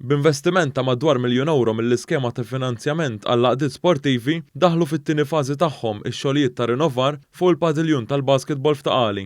B'investiment ta' madwar miljun ewro mill-iskema ta' finanzjament għall-għaqdiet sportivi, daħlu fit-tieni fażi tagħhom ix-xogħlijiet ta' rinovar fuq il-padiljun tal-basketball f'Ta' Qali.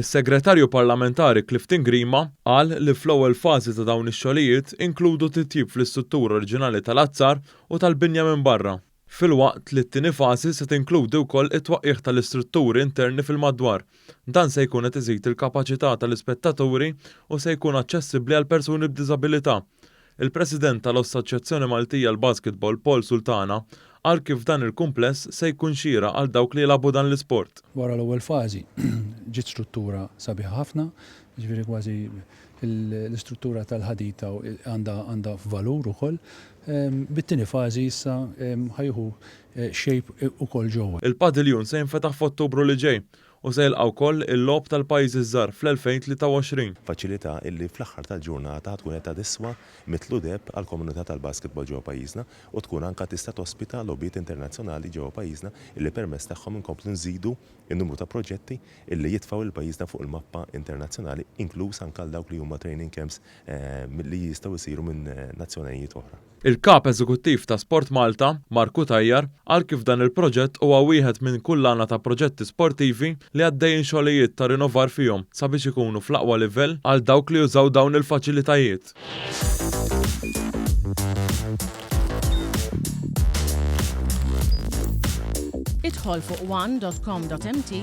Is-Segretarju Parlamentari Clifton Grima qal li fl-ewwel fażi ta' dawn ix-xogħlijiet inkludu titjib fl-istruttura oriġinali tal-azzar u tal-binja minn barra. filwaqt li t-tieni fażi se tinkludi wkoll it-twaqqigħ tal-istrutturi interni fil-madwar. Dan se jkun qed iżid il-kapaċità tal-ispettaturi u se jkun aċċessibbli għal persuni b'diżabilità. Il-President tal-Ossaċjazzjoni Maltija għall-Basketball Paul Sultana qal kif dan il-kumpless se jkun xieraq għal dawk li jilagħbu dan l-isport. Wara l-ewwel fażi ġiet struttura sabiħa ħafna, jiġifieri kważi l-istruttura tal-ħadid għandha valur ukoll, bit-tieni fażi issa ħa jieħu shape ukoll ġewwa. Il-padiljun se jinfetaħ f'Ottubru li ġej u se jilqa' wkoll il-Logħob tal-Pajjiżi ż-Żgħar fl-2023. Faċilità illi fl-aħħar tal-ġurnata ħa tkun qed tiswa mitlu deheb għall-komunità tal-basketball ġewwa pajjiżna u tkun anke tista' tospita logħbiet internazzjonali ġewwa pajjiżna illi permezz tagħhom inkomplu nżidu n-numru ta' proġetti illi jitfgħu lil pajjiżna fuq il-mappa internazzjonali inkluż anke għal dawk li huma training camps milli jistgħu jsiru minn nazzjonajiet oħra. Il-Kap Eżekuttiv ta' SportMalta, Mark Cutajar, qal kif dan il-proġett huwa wieħed minn kullana ta' proġetti sportivi li għaddejjin xogħlijiet ta' rinovar fihom sabiex ikunu fl-aqwa livell għal dawk li jużaw dawn il-faċilitajiet. Idħol fuq one dot com dot mt